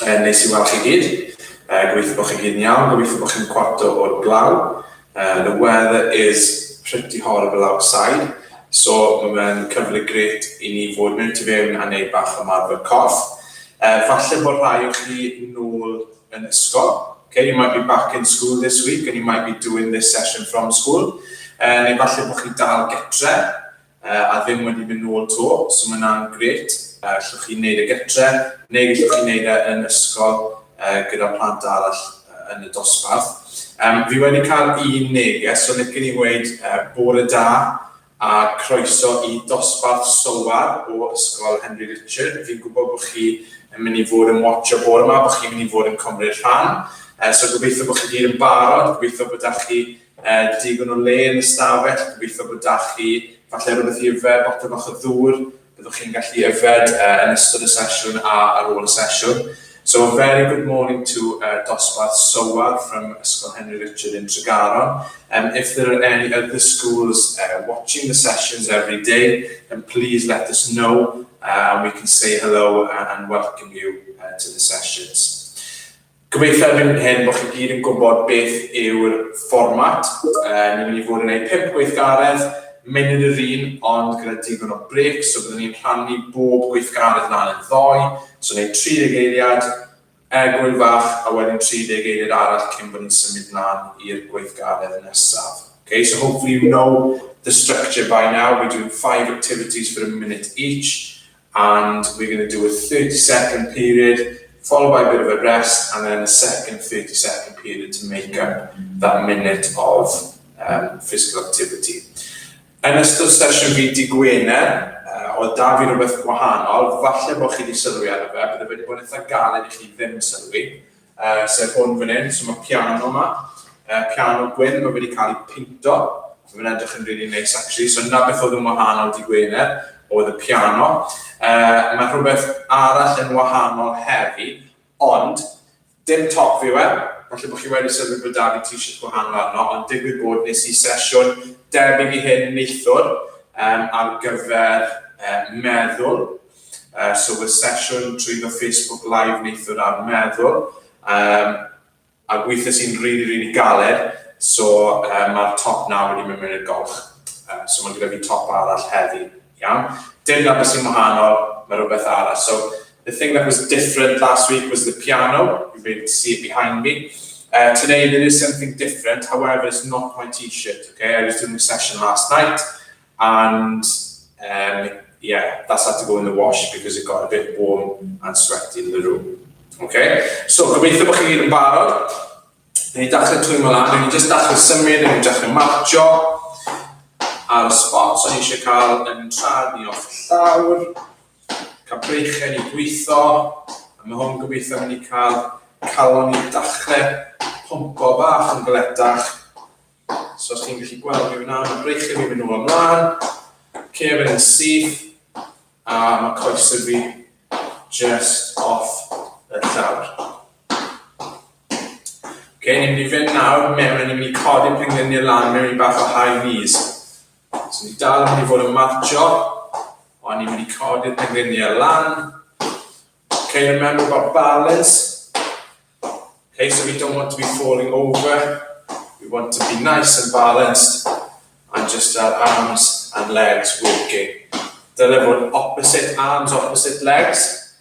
Um, neis i weld chi gyd. Uh, gobeithio bod chi gyd yn iawn, gobeithio bod chi'n cwarto o'r glaw. Uh, the weather is pretty horrible outside, so mae fe'n cyfle gret i ni fod mewn tu fewn a neud bach o marfer corff. Uh, falle bod rhai o chi nôl yn ysgol. Okay, you might be back in school this week and you might be doing this session from school. Uh, neu falle bod chi dal getre, a ddim wedi mynd nôl to, so mae hwnna'n grêt. Llwch chi'n neud e gytre, neu gallwch chi neud e yn ysgol gyda plant arall yn y dosbarth. Um, fi wedi cael un neges, so licen i weid uh, bore da a croeso i dosbarth sylwar o Ysgol Henry Richard. Fi'n gwybod bod chi yn mynd i fod yn watch o bore yma, bod chi'n mynd i fod yn cymryd rhan. Uh, so gobeithio bod chi gyd yn barod, gobeithio bod da chi Yy, digon o le yn y stafell, gobeithio bod 'da chi falle rhywbeth i yfed, botel bach o ddŵr, byddwch chi'n gallu yfed uh, yn ystod y sesiwn a ar ôl y sesiwn. So a very good morning to uh, Dosbarth Sowar from Ysgol Henry Richard in Tregaron. Um, if there are any other schools uh, watching the sessions every day, then please let us know uh, and we can say hello and, and welcome you uh, to the sessions. Gobeithio erbyn hyn bod chi gyd yn gwybod beth yw'r fformat. Ni'n mynd i fod yn gwneud pump gweithgaredd, munud yr un, ond gyda digon o brêcs, so byddwn ni'n rhannu bob gweithgaredd lan yn ddoe, so wneud 30 eiliad, egwyl fach, a wedyn 30 eiliad arall cyn bod ni'n symud lan i'r gweithgaredd nesaf. Ok, so hopefully you know the structure by now, we're doing five activities for a minute each, and we're gonna do a thirty second period followed by a bit of a rest and then a second thirty second period to make up that minute of um, physical activity. Yn ystod sesiwn fi di Gwener, uh, o da fi rhywbeth gwahanol, falle bod chi wedi sylwi ar y fe, bydd wedi bod yn eitha galed i chi ddim sylwi, Yy, sef hwn fan hyn, so mae piano yma, uh, piano gwyn, mae wedi cael ei pinto, so mae'n edrych yn really neis actually, so na beth oedd yn wahanol di Gwener, oedd y piano. Uh, mae rhywbeth arall yn wahanol heddi, ond dim top fi we, falle bod chi wedi sylwi bod da fi t-shirt gwahanol arno, ond digwydd bod nes i sesiwn debyg i hyn neithwr um, ar gyfer uh, meddwl, So y sesiwn trwy fy Facebook live neithiwr ar meddwl um, a gweithiais i'n rili, rili galed, so um, mae'r top na wedi mynd mewn i'r golch. Uh, so mae gyda fi top arall heddi, iawn. Dim na beth sy'n wahanol, mae rhywbeth arall. So the thing that was different last week was the piano, you'll be able to see it behind me. Uh, today there is something different, however it's not my t-shirt, okay? I was doing a session last night, And um yeah, that's had to go in the wash because it got a bit warm and sweaty in the room. Ok, so gobeithio bod chi gyd yn barod. Dyn ni dachrau twy'n mynd lan, dyn ni jyst dachrau symud, dyn ni dachrau marcio ar y spot o'n eisiau cael yn trad ni off llawr, cael breichau ni gweithio, a mae hwn gobeithio mynd i cael calon ni dachrau pompo bach yn gledach So os ti'n gallu gweld mi fyna, mae breichio fi'n mynd nôl ymlaen, cefn yn syth, a mae coesau fi just off y llawr. Ok, ni'n mynd i fynd nawr mewn, ni'n mynd i codi'r pengliniau lan mewn i bach o high knees. So ni dal yn mynd i fod yn marcho, ond ni'n mynd i codi'r pengliniau lan. Ok, remember about balance. Hey, so we don't want to be falling over, we want to be nice and balanced and just our arms and legs working. Dyle fod opposite arms, opposite legs.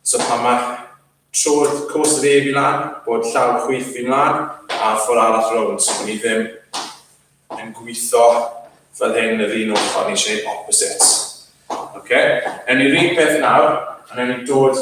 So pan mae trodd cwrs yr ef i lan, bod llaw chwyth fi'n lan, a ffwr arall rownd, so bod ni ddim yn gweithio fel hyn yr un ochr, ni eisiau gwneud opposites. Okay? Ewn ni rhywun peth nawr, a ewn ni dod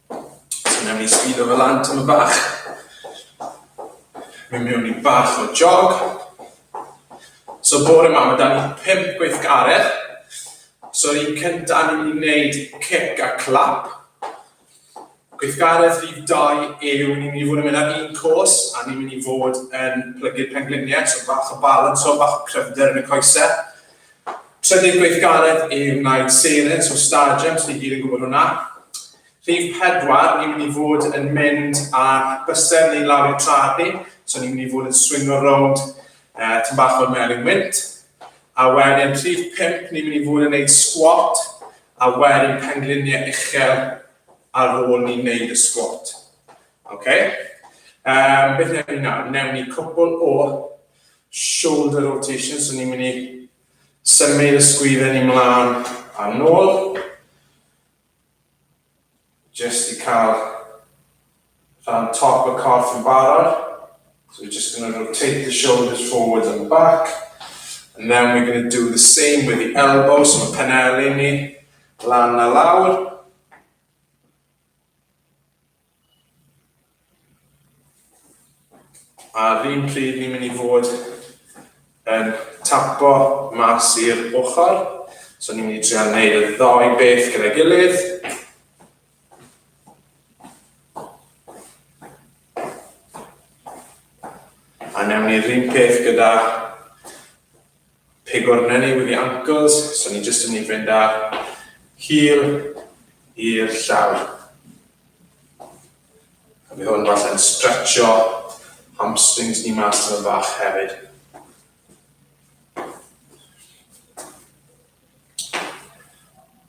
So newn ni sgudo fe lan tyma bach. Mynd mewn i bach o jog. So bore ma, ma da ni pimp gweithgaredd. So yr un cynta, ni'n mynd i wneud cic a clap. Gweithgaredd rhif dau yw, ni'n mynd i fod yn mynd ar un cwrs, a ni'n mynd i fod yn plygu'r pengliniau, so bach o balans o, bach o cryfder yn y coesau. Trydydd gweithgaredd i wneud seren, so stadiwm, so ni gyd yn gwybod hwnna. Rhif pedwar, ni'n mynd i fod yn mynd ar bysau ni lawr i'r traed ni, so ni'n mynd i fod yn swingo rownd uh, tyn bach o'r melin wynt. A wedyn rhif pimp, ni'n mynd i fod yn gwneud squat, a wedyn pengliniau uchel ar ôl ni'n gwneud y squat. Okay? Um, beth newn ni nawr? Newn ni cwpl o shoulder rotation, so ni'n mynd i symud y sgwydden i mlaen a nôl, jyst i cael rhan top y corff yn barod, so we're just going to rotate the shoulders forwards and back, and then we're going to do the same with the elbows, so mae penelin ni lan a lawr, A'r un pryd ni'n mynd i fod yn tapo mas i'r ochr. So ni'n mynd i trio wneud y ddoi beth gyda'i gilydd. A newn ni'r un peth gyda Pigor neni with the ankles, so ni jyst yn mynd i fynd â hil i'r llawr. A mi hwn falle'n stretcho hamstrings ni mas yn y fach hefyd.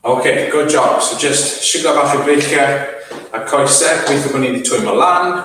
OK, good job. So just siglo bach y breichiau a coesau, gweithio bod ni wedi twymo lan.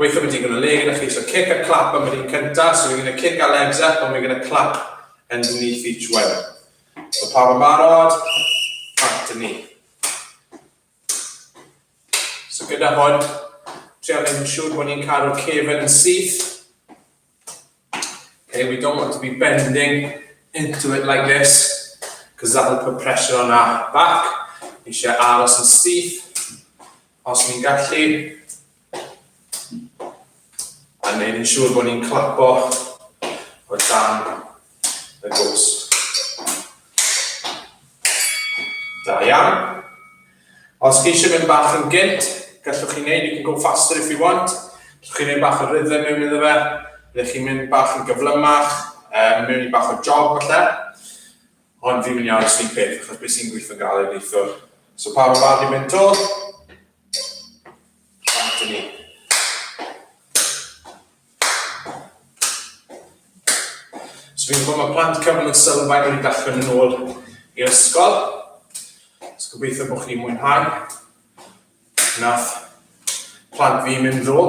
Gweithio am digon o le gyda chi, so kick a clap am yr un cynta, so we're gonna kick our legs up and we're gonna clap underneath each one. So pawb yn barod? Right, dyn ni. So gyda hwn, trio mynd yn siŵr bod ni'n cadw'r cefn yn syth. Okay, we don't want to be bending into it like this, because that will put pressure on our back. Ni eisiau aros yn stiff, os ni'n gallu. A neud yn siŵr bod ni'n clapo o dan y gost. Da iawn. Os chi eisiau mynd bach yn gynt, gallwch chi wneud, you can go faster if you want, gallwch chi wneud bach o rhythm mewn iddo fe, byddwch chi'n mynd bach yn gyflymach, um, mewn i bach o jog falle, ond fi'n mynd i aros ni'n peth, achos beth sy'n gweithio'n gael ei neithwr. So pa mor barod i mynd to? Rhaid i ni. So fi'n gwybod mae plant cyfnod yn sylfaen wedi dechrau mynd nôl i'r ysgol. So gobeithio bod chi'n mwynhau. Nath plant fi mynd ddo,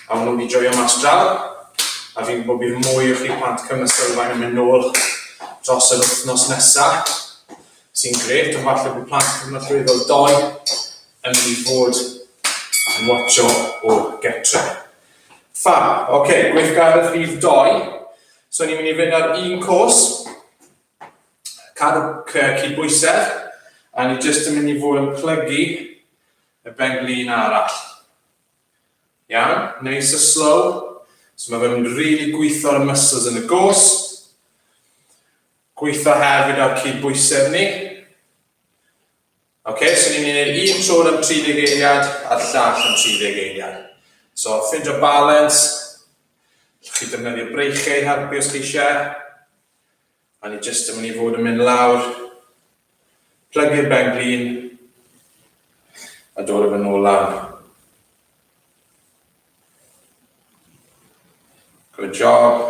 a nhw wedi joio mas draw. A fi'n gwybod bydd mwy o chi plant cyfnod sylfaen yn mynd nôl dros yr wythnos nesaf. sy'n grêt, ond falle bod plant cyfnodrwyddol dou yn mynd i fod yn watcho o getre. Fab, oce, okay, gweithgaredd rhif dou. So ni'n mynd i fynd ar un cwrs, cadw creu cydbwysedd, a ni jyst yn mynd i fod yn plygu y benglin arall. Iawn, neis a slow. So mae fe'n rili really gweithio'r muscles yn y gos. Gweithio hefyd ar cydbwysedd ni. Ok, so ni'n mynd i'r un trwr am 30 eiliad a'r llall am 30 eiliad. So, ffindio balans, allwch chi defnyddio breichiau i helpu os chi eisiau. A ni jyst yn mynd i fod yn mynd lawr Plygu'r ben glin a dod â fe nôl lan. Good job.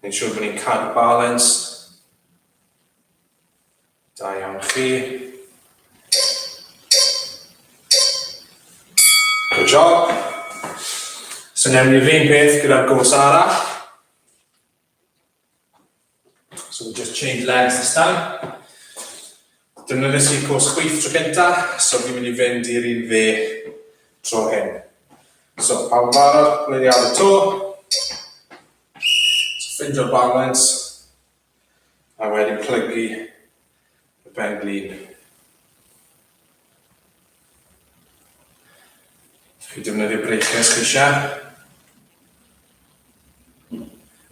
Mae'n siŵr bod ni'n cadw balans. Da iawn chi. Good job. So newn ni'r un peth gyda'r gwrs arall. So we just change legs this time. Dyna nes i'r cwrs chwith tro cynta, so fi'n mynd i fynd i'r un fe tro hyn. So, pawb yn barod, gwneud i ar y to. So, ffindio balance. A wedyn plygu y pen-glin. Os chi'n defnyddio breakers chi eisiau.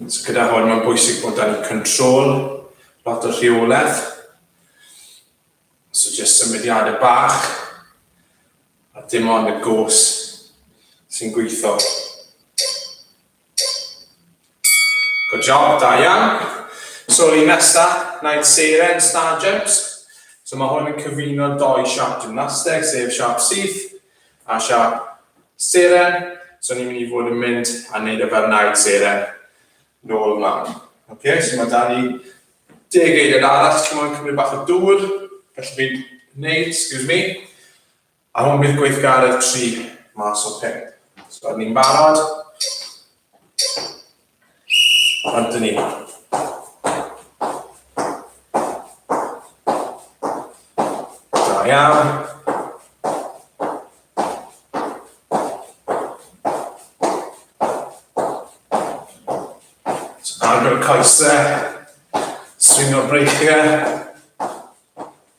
So gyda hwn mae'n bwysig bod dan control, lot o rheolaeth. So jyst symudiadau bach a dim ond y gos sy'n gweithio. Good job, da iawn. So un nesa, night seren, star jumps. So mae hwn yn cyfuno doi siap gymnasteg, sef siap syth a siap seren. So ni'n mynd i fod yn mynd a wneud y fel night seren nôl ymlaen. Okay, so mae da ni deg eiliad arall, ti'n mwyn cymryd bach o dŵr, felly fi'n wneud, excuse me, A hwn bydd gweithgaredd 3 mas o 5. So, rydyn ni'n barod. Rydyn ni. Da iawn. So, agor y coesau. Stringo'r breichiau.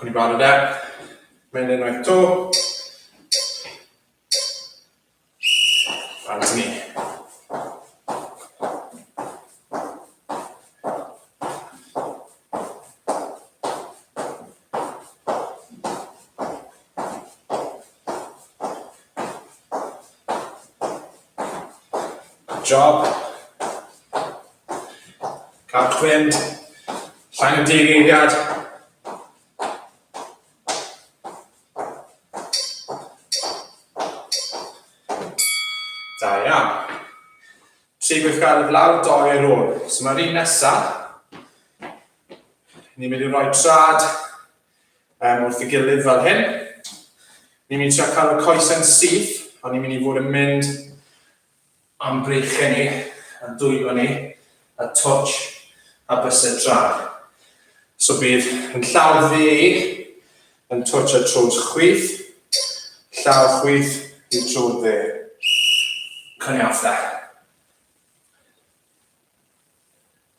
Cwn i'n barod e. Mae'n enwaith to. Barod ni. Job. Carchwyn. Llain y deg eiliad. Da iawn. Tri gweithgaredd lawr, doi ar ôl. So mae'r un nesaf. Ni'n mynd i roi trad um, wrth y gilydd fel hyn. Ni'n mynd i trio cael y coesau'n syth, ond ni'n mynd i fod yn mynd am breichau ni, a dwylo ni, a twtch, a bysau trad. So bydd yn llaw dde yn twtch a trws chwyth, llaw chwyth i'r trwr dde. Cynniafta.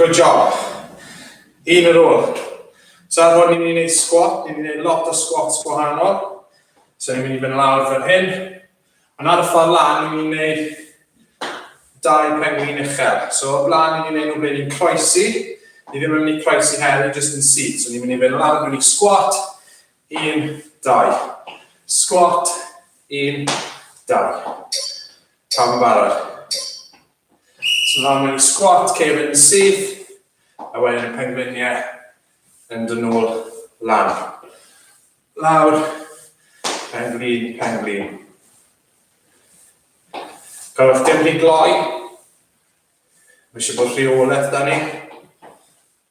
Good job. Un ar ôl. So ar hwn ni'n mynd i wneud squat, ni'n mynd i wneud lot o squats gwahanol. So ni'n mynd i fynd lawr fel hyn. Ond ar y ffordd lan, ni'n mynd i wneud dau penglin uchel. So o'r blaen, ni'n mynd i wneud nhw ble ni'n croesi. Ni ddim yn mynd i croesi hefyd, jyst yn syth. So ni'n mynd i fynd lawr, ni'n mynd i squat, 1, 2. Sgwat, 1, 2. Pam yn barod? So nawr mewn i sgwat, cefn yn syth, a wedyn y pengliniau yn dyn nhw'r lan. Lawr, penglin, penglin. Gallwch ddim rhy gloi. Mae eisiau bod rheolaeth da ni.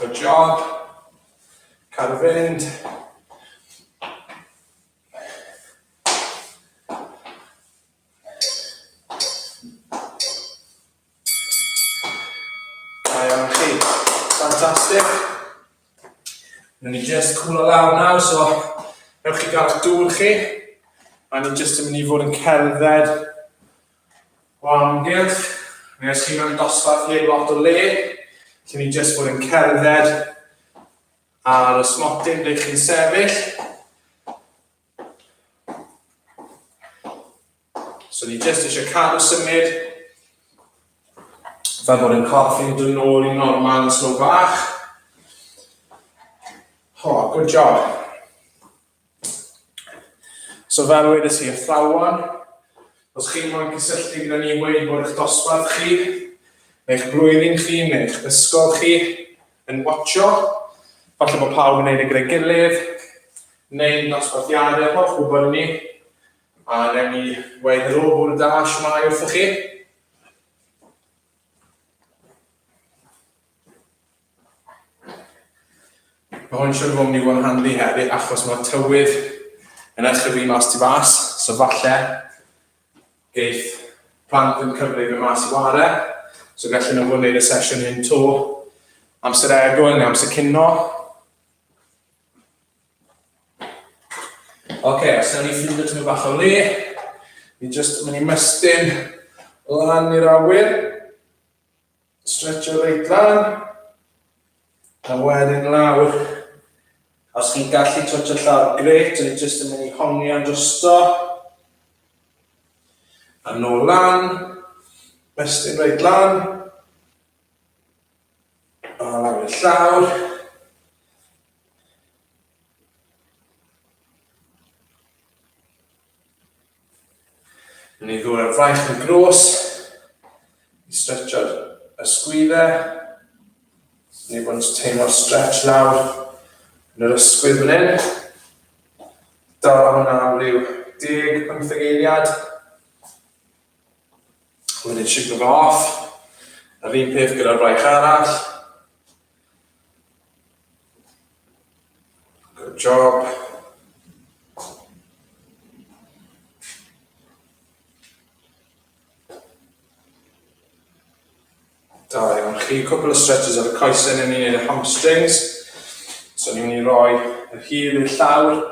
Good job. Car fynd. Da iawn chi. Fantastic. Newn ni jyst cwlo lawr nawr, so ewch i gael eich dŵr chi, a ni jyst yn mynd i fod yn cerdded o amgylch, neu os chi mewn dosbarth heb lot o le, lle ni jyst fod yn cerdded ar y smotyn ble chi'n sefyll. So ni jyst eisiau cadw symud, fel bod yn corff yn dod nôl i normal yn slo bach. Ho, oh, good job. So fel wedys i, athrawon, os chi'n moyn cysylltu gyda ni wedi bod eich dosbarth chi, neu'ch blwyddyn chi, neu'ch ysgol chi, yn watcho, falle bod pawb yn neud y gyda'i gilydd, neu'n dosbarthiadau, holl gwybod ni, A wnewn ni weud helo, bore da, shwmae wrthoch chi? Mae hwn siwr fod ni fod yn handi hefyd achos mae tywydd yn achrefu mas ti fas, so falle geith plant yn cyfle i fy mas i ware, so gallen nhw fod yn gwneud y sesiwn hyn to amser egwn neu amser cino. Ok, os yna ni ffindio tymyn bach o le, ni jyst mynd i mestyn lan i'r awyr, stretcho reit lan, a wedyn lawr. Os chi'n gallu twtio llawr, gret, ni jyst yn mynd i hongian drosto, a nôl lan, mestyn reit lan, a lawr i'r llawr, Yn ei ddwy'r fraich yn gros, i stretcho'r ysgwyddau, ni bod yn teimlo'r stretch lawr yn yr ysgwydd fan hyn. Dala hwnna am ryw 10-15 eiliad. Wedyn shiglo fo off. Yr un peth gyda'r fraich arall. Good job. Da iawn chi, cwpl o stretches ar y coesau yn ni'n y hamstrings. So ni'n mynd i roi y hyd i'r llawr,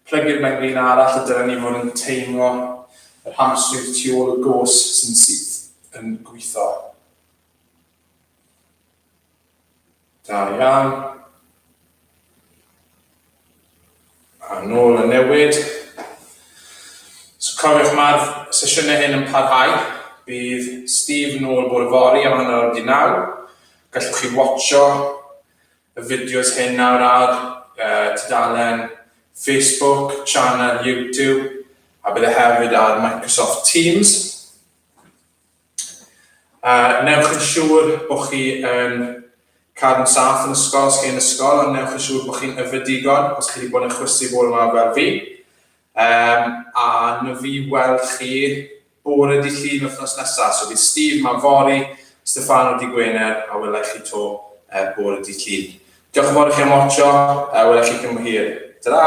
plygu'r benglin arall a dyna ni fod yn teimlo yr hamstrings tu ôl y gos sy'n syth yn gweithio. Da iawn. A nôl y newid. So cofiwch mae'r sesiynau hyn yn parhau. Bydd Steve nôl bore fori am hanner awr di naw. Gallwch chi watcho y fideos hyn nawr ar uh, tudalen Facebook, channel YouTube, a bydd e hefyd ar Microsoft Teams. A wnewch yn siŵr bod chi yn cael yn saff yn ysgol os chi yn ysgol, ond wnewch yn siŵr bod chi'n yfed digon os chi wedi bod yn chwysu bore yma fel fi. Um, a na fi weld chi bore di llun wythnos nesaf. So bydd Steve ma fori, Stefano di Gwener, a wela chi to uh, bore di llun. Diolch yn fawr i chi am watcho, a wela chi cyn hir. Ta-ra!